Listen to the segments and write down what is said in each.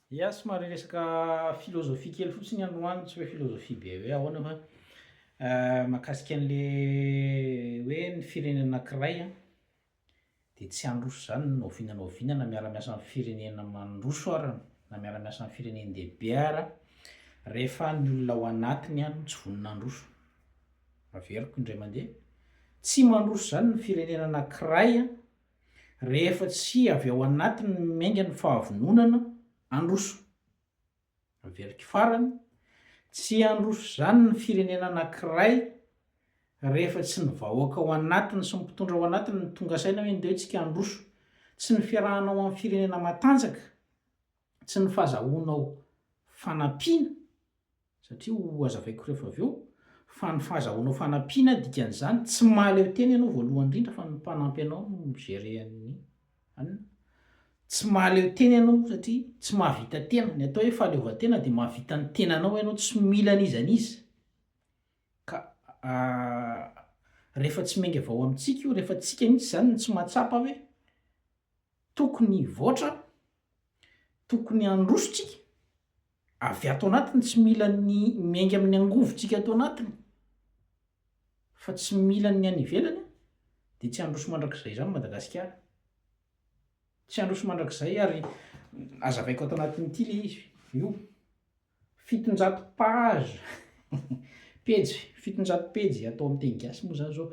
Ia, somary resaka philosophie kely fotsiny androany, tsy hoe philosophie be hoe ahoana fa mahakasika an'le hoe ny firenena anankiray an, dia tsy handroso izany na oviana na oviana na miara miasa amin'ny firenena mandroso ara na miara miasa amin'ny firenen-dehibe ara rehefa ny olona ao anatiny an tsy vonona handroso. Averiko indray mandeha, tsy mandroso izany ny firenena anankiray an, Rehefa tsy avy ao anatiny ny miainga ny fahavononana handroso. Aveliky farany, tsy handroso izany ny firenena anankiray rehefa tsy ny vahoaka ao anatiny sy ny mpitondra ao anatiny no tonga saina hoe ndeha tsika handroso. Tsy ny fiarahana ao amin'ny firenena matanjaka. Tsy ny fahazahoanao fanampiana, satria ho hazavaiko rehefa avy eo, fa ny fahazahoanao fanampiana, dikan'izany, tsy mahaleo tena ianao voalohany indrindra fa ny mpanampy anao no mi-gérer an'i anona. Tsy mahaleo tena ianao satria tsy mahavita tena. Ny atao hoe fahaleovantena dia mahavita ny tenanao ianao, tsy mila an'iza an'iza. Ka rehefa tsy miainga avy ao amintsika io, rehefa tsika mihitsy izany no tsy mahatsapa hoe Tokony hivoatra, tokony handroso tsika avy ato anatiny, tsy mila ny miainga amin'ny angovo tsika ato anatiny, fa tsy mila ny any ivelany an, dia tsy handroso mandrakizay izany Madagasikara, tsy handroso mandrakizay ary azavaiko ato anatin'ity le izy io. Fitonjato page pejy fitonjato pejy atao amin'ny teny gasy moa izany izao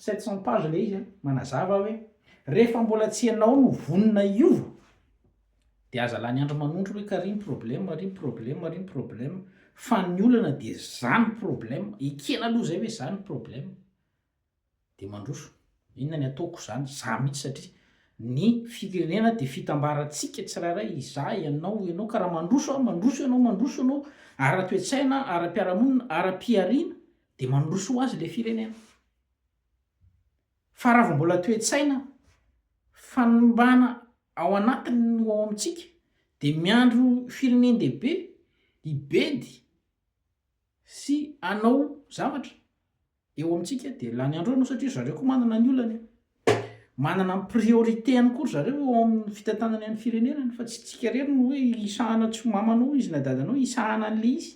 sept cent page ilay izy a, manazava hoe rehefa mbola tsy ianao no vonona hiova dia aza lany andro manondro hoe ka ry ny problème ry ny problème ry ny problème fa ny olana dia zany problème ekena aloha izay hoe zany ny problème. Dia mandroso. Inona ny ataoko izany? Za mihitsy satria ny firenena dia fitambarantsika tsirairay, izaho, ianao, ianao ka raha mandroso aho, mandroso ianao, mandroso ianao ara-toetsaina, ara-piarahamonina, ara-pihariana dia mandroso ho azy ilay firenena. Fa raha vao mbola toe-tsaina, fanimbana ao anatiny no ao amintsika dia miandry ho firenen-dehibe hibedy sy hanao zavatra. eo amintsika dia lany andro eo no satria ry zareo koa manana ny olany e! manana ny priorité-ny koa ry zareo eo amin'ny fitantanana ny firenenany fa tsy tsika irery no hoe hisahana an'i soamamanao izy na dadanao hisahana an'le izy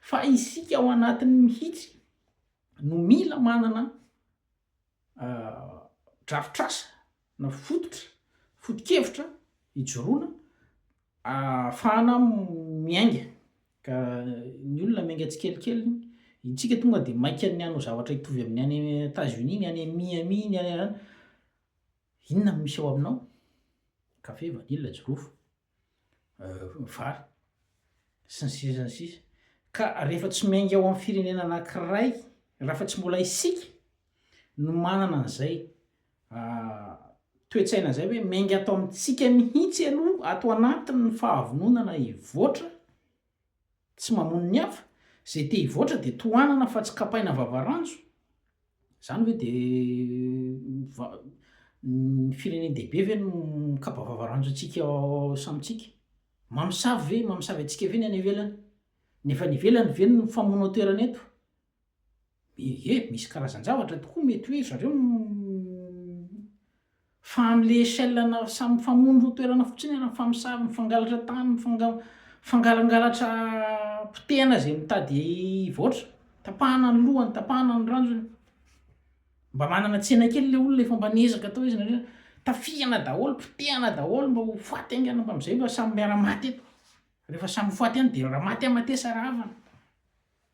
fa isika ao anatiny mihitsy no mila manana drafitr'asa na fototra fotokevitra hijoroana Ahafahana miainga, ka ny olona miainga tsikelikely, intsika tonga dia maika ny hanao zavatra hitovy amin'ny any Etazonia, ny any Miami, ny any an'ana. Inona no misy ao aminao? Kafe, vanila, jirofo, vary, sy ny sisa sy ny sisa. Ka rehefa tsy miainga ao amin'ny firenena anankiray, raha fa tsy mbola isika no manana an'izay, A, toe-tsaina izay hoe miainga ato amintsika mihitsy aloha ato anatiny ny fahavononana hivoatra tsy mamono ny hafa, izay te hivoatra dia tohanana fa tsy kapaina vavaranjo, izany ve dia va, ny firenen-dehibe ve no mikapa vavaranjo antsika samintsika? Mamosavy ve, mamosavy antsika ve ny any ivelany? Ny avy any ivelany ve no mifamono an-toerana eto? Ehe, misy karazan-javatra tokoa mety hoe zareo no fa amin'ilay échelle na samy mifamono roa toerana fotsiny ary mifamosavy, mifangalatra tany, mifanga- mifangalangalatra potehana izay mitady hivoatra, tapahana ny lohany, tapahana ny ranjony. Mba manana tsena kely ilay olona efa mba niezaka tao izy nareo, tafihana daholo, potehana daholo mba ho faty haingana mba amin'izay mba samy miara-maty eto, rehefa samy ho faty ihany dia raha maty amatesa raha havana.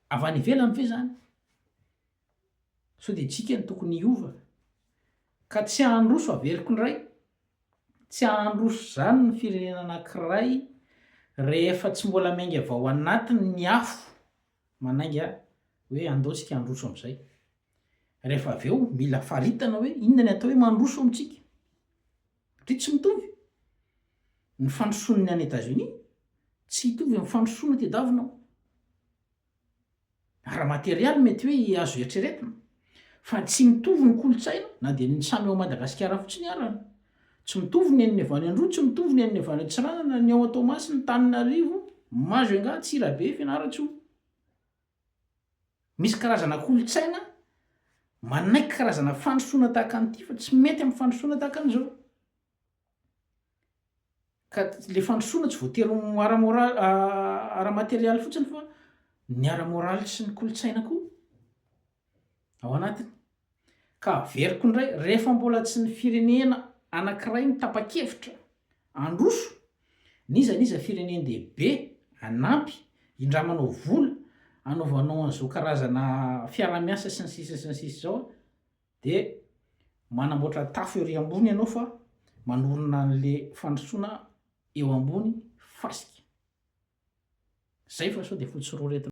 Avy any ivelany ve izany? Sao dia isika no tokony hiova ka tsy handroso averiko indray? Tsy handroso izany ny firenena anankiray rehefa tsy mbola miainga avy ao anatiny ny afo manainga hoe andao isika handroso amin'izay. Rehefa avy eo mila faritana hoe inona ny atao hoe mandroso amintsika. Satria tsy mitovy ny fandrosoan'ny any Etazonia tsy hitovy amin'ny fandrosoana aty Davina ao. Ara-materialy mety hoe azo eritreretina fa tsy mitovy ny kolontsaina na dia ny samy ao Madagasikara fotsiny ara. Tsy mitovy ny an'ny avy any Androy, tsy mitovy ny an'ny avy any Antsiranana, ny ao Toamasina, Antananarivo, Majunga, Antsirabe, Fianarantsoa. Misy karazana kolontsaina manaiky karazana fandrosoana tahaka an'ity fa tsy mety amin'ny fandrosoana tahaka an'izao. Ka le fandrosoana tsy voatery ho ara-moraly ara-materialy fotsiny fa ny ara-moraly sy ny kolontsaina koa ao anatiny. Ka averiko indray, rehefa mbola tsy ny firenena anankiray no tapa-kevitra handroso, n'iza n'iza firenen-dehibe hanampy, hindramanao vola, hanaovanao an'izao karazana fiaraha-miasa sy ny sisa sy ny sisa izao, dia manamboatra tafo ery ambony ianao fa manorina an'ilay fandrosoana eo ambony fasika. Izay fa sao dia fotsororetina.